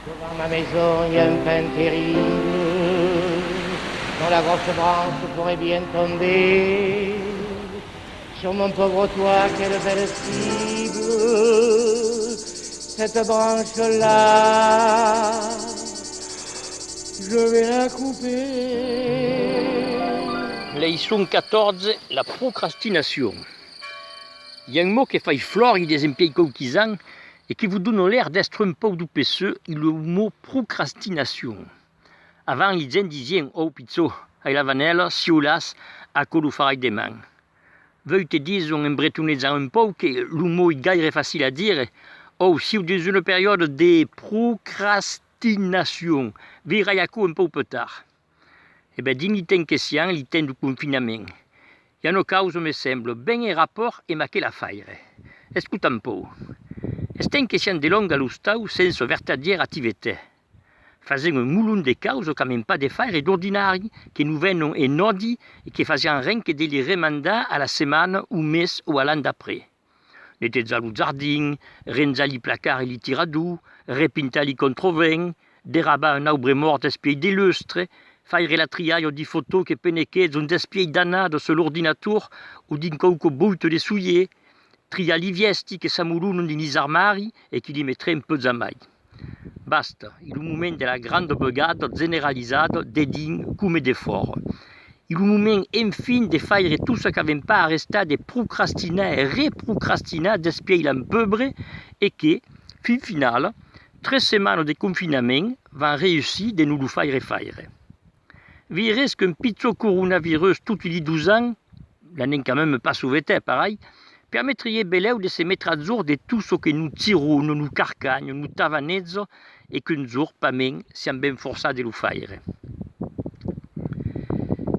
Devant ma maison y'a un pin terrible dont la grosse branche pourrait bien tomber sur mon pauvre toit quelle belle cible cette branche là je vais la couper Leçon 14 la procrastinacion y'a un mot que fai flòr i desempiei quauquis'an e que vos dona l'air d'èstre un pauc du PSE e lo mo procrastinacion. Avant li gent disien ò pichó, ai la vanèla, si o las, aquò lo farai deman. Veu te dison en bretonejant un pauc que lo mo ei gaire facil a dire, òu siu dins una periòda de procrastinacion, veirai aquò un pauc peutard. E ben, dins li temps que sián, li temps du confinament, i a no causa, me sembla, ben en rapòrt emb aquela faire. Escotam un pòu. Es temps que sián delonga a l'ostau sensa vertadièra activeté. Fasèm un molon de causa qu'amèn pas de faire d'ordinari, que no venon en òdi e que fasián ren que de li remandar a la setmana, au mes o a l'an d'après. Netezar lo jardin, renjar li placards e li tiradors, repintar li controvents, derrabar un aubre mòrt d'espiei de lustre, faire la trialha di fotò que penequètz un d'espiei danado sul ordinator o dins quauqu boito de soier, triar li vièsti que s'amolonon dins lis armari e que li metrem peus amai. Basta, es lo moment de la granda bogada generalizada de dins coma de fòra. Es lo moment enfin de faire tot çò qu'avèm pas arrestat de procrastinar e reprocrastinar despièi l'an peubre e que, fin finala, tres setmanas de confinament van reüssir de nos lo faire faire. Vires qu'un pichon coronavirus toti li dus ans, l'an encamèm pas sovetèt parai, permetrie belèu de se metre a jorn de tot çò que no tiron, no carcan, no tavanètz e qu'un jorn pas mens siam ben forçats de lo faire.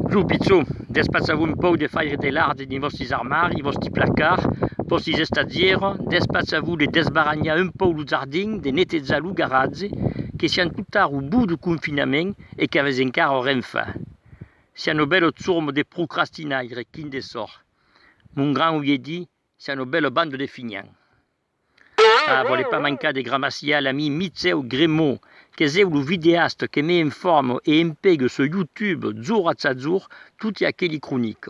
Lo pichon, despatsa-vos un pauc de faire de l'art dins vòstis armaris, vòsti placards, vòstis estadièrs, despatsa-vos de desbaranhar un pauc lo jardin, de netejat lo garatge, que siam totara au bout du confinament, e qu'avès encara o renfa. Sia no bèlo zurmo de procrastinaire quin de sòr. Mon gran auie dit, sia no bèlo bando de finhan. Ah, vòle pas mancar de gramaciar l'ami Mitseu Gremot, qu'es eu lo videast que me informo e empego sur YouTube, zur atz azur, toti aqueli cronic.